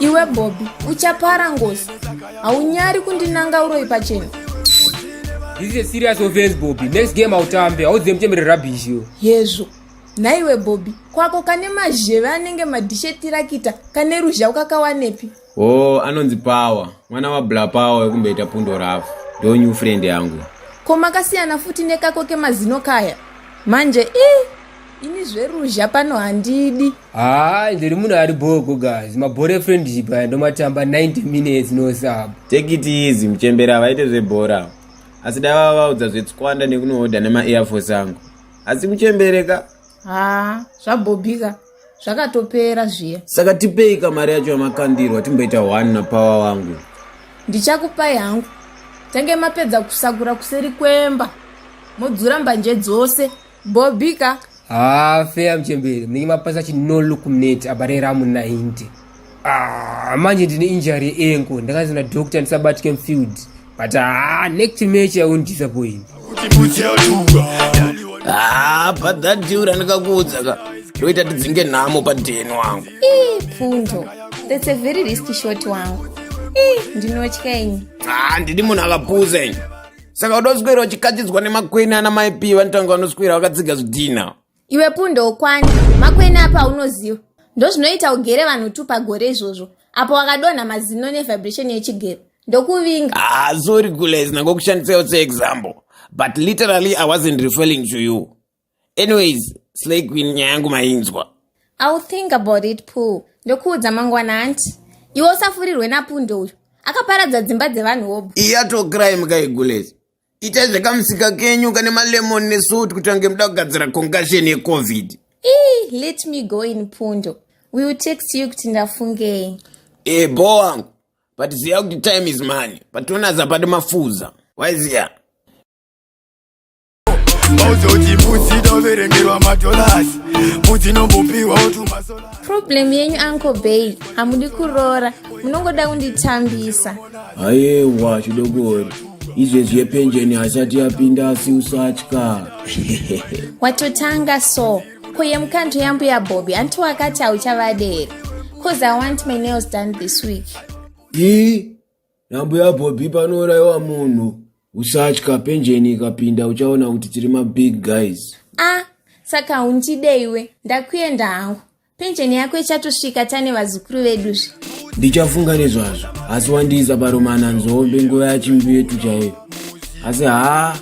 iwe bobi uchapara ngozi haunyari kundinanga uroyi pachena This is a serious offense, Bobby. Next game hautambe, hauzive muchembere rubbish yo. hezvo nhaiwe bobi kwako kane mazheve anenge madhishetirakita kane ruzha ukakawanepi oo anonzi power mwana wabla power wekumboita pundo rafu ndo new friend yangu ko makasiyana futi nekako kemazino kaya manje i ini zveruzha pano handidi haa ah, ndiri munhu ari bhoko guys mabhora efriendship aya ndomatamba 90 minutes no sub take it easy muchembera havaite zvebhora asi dai vava vaudza zvetswanda nekunohodha nemaairforce angu asi muchembereka haa ah, zvabhobhika zvakatopera zviya saka tipei kamari yacho yamakandirwa timboita one napower wangu ndichakupai hangu tange mapedza kusakura kuseri kwemba modzura mbanje dzose mbobika haa ah, feya mchembere munenge mapasa chi no look mnet abarera mu 90 ah, manje ndine injury enko ndakanzi na doctor ndisabatike mfield but haa ah, next match i won't disappoint haa padhadhiura ndikakuudza ka ndoita tidzinge nhamo padheni wangu pfundo that's a very risky short wangu ndinotya ini haa ndidi munhu akapuza ini saka uda kuswera uchikachidzwa nemakwene ana maipi vanotanga vanoswera vakatsiga zvidhina iwe pundo ukwani makwene apa unoziva ndozvinoita ugere vanhu tu pagore izvozvo apo wakadonha mazino nevibration yechigero ndokuvinga ah sorry gules nangokushandisaiwo seexample but literally i wasn't referring to you anyways slay queen nyaya yangu mainzwa iwill think about it poo ndokuudza mangwana hanti iwe usafurirwe napunde uyu akaparadza dzimba dzevanhu wobu iyatokrai mukaigules itai zvekamusika kenyu kane malemon nesuit kuti ange muda kugadzira concussion yecovid ii let me go in pundo we will text you kuti ndafungei e bho wangu but ziva kuti time is money pationa zapati mafuza waiziya problem yenyu uncle bay hamudi kuroora munongoda kunditambisa hayewa chidogori izvezvi yepenjeni hasati yapinda asi usatya watotanga so ko yemukando yambuya bobi anti wakati hauchavaderi bcause i want my nails done this week i Nambuya Bobby panouraiwa munhu usatya penjeni ikapinda uchaona kuti tiri mabig guys. Ah, saka haundide iwe, ndakuenda hangu. Penjeni yako ichatosvika tane vazukuru veduzve. Ndichafunga nezvazvo, asi wandiisa paromana nzombe nguva yachimbi yetu chaiyo. Asi haa,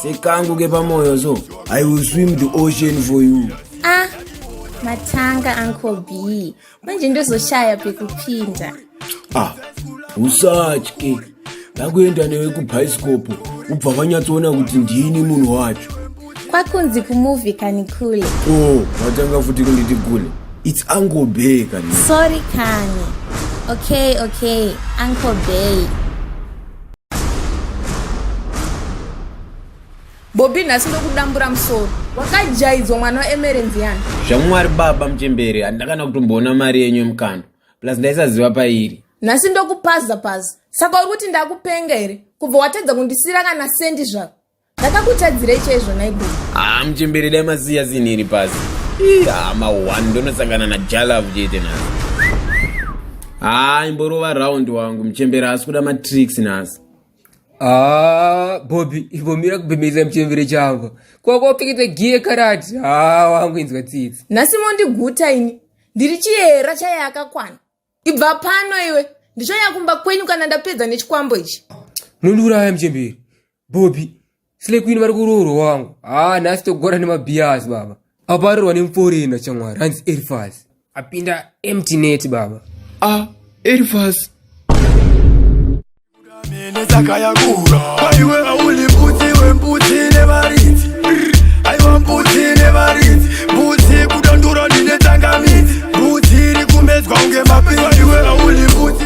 sekangu kepamwoyo so, I will swim the ocean for you. Ah, matanga uncle B. manje ndozoshaya pekupinda ah usatye ndakuenda newe kubhaisikopo ubva vanyatsoona kuti ndini munhu wacho kwakunzi kumovhi kani kule o oh, vatanga futi kunditi kule its uncle bay kani sorry kani okay okay uncle bay Bobi nhasi ndokudambura musoro. Wakajaidzwa mwana waEmerence yani. Zvamwari baba mchembere handakana kutomboona mari yenyu yemukando. Plus ndaisaziva pairi. Nhasi ndokupaza paza. Saka uri kuti ndakupenga here? Kubva watadza kundisira kana sendi zvako. Ndakakutadzirei chaizvo naibo. Ah mchembere dai masiya zini iri pasi. Ii ah ma one ndonosangana na Jalav chete nhasi. Ah imborova round wangu mchembere asi kuda matricks nhasi. Ah, Bobby, imbomira kubhemeza muchembere changu. Kwako upfekete giye karati. Ah, wangu inzwa tsitsi. nhasi mondiguta ini ndiri chiyera chaya yakakwana ibva pano iwe ndichauya kumba kwenyu kana ndapedza nechikwambo ichi Munondiuraya muchembere. Bobby, Slay Queen vari kuroorwa wangu. Ah, nhasi togora nemabhiyazi baba. Aparirwa nemforina chamwari hanzi Elifaz. Apinda empty net baba. Ah, Elifaz. Mene dzakayakura aiwe auli mbudzi wembudzi nevaridzi aiwa mbudzi nevaridzi mbudzi kudandura ndine tsangamidzi mbudzi iri kumedzwa kunge mapiri aiwe auli mbudzi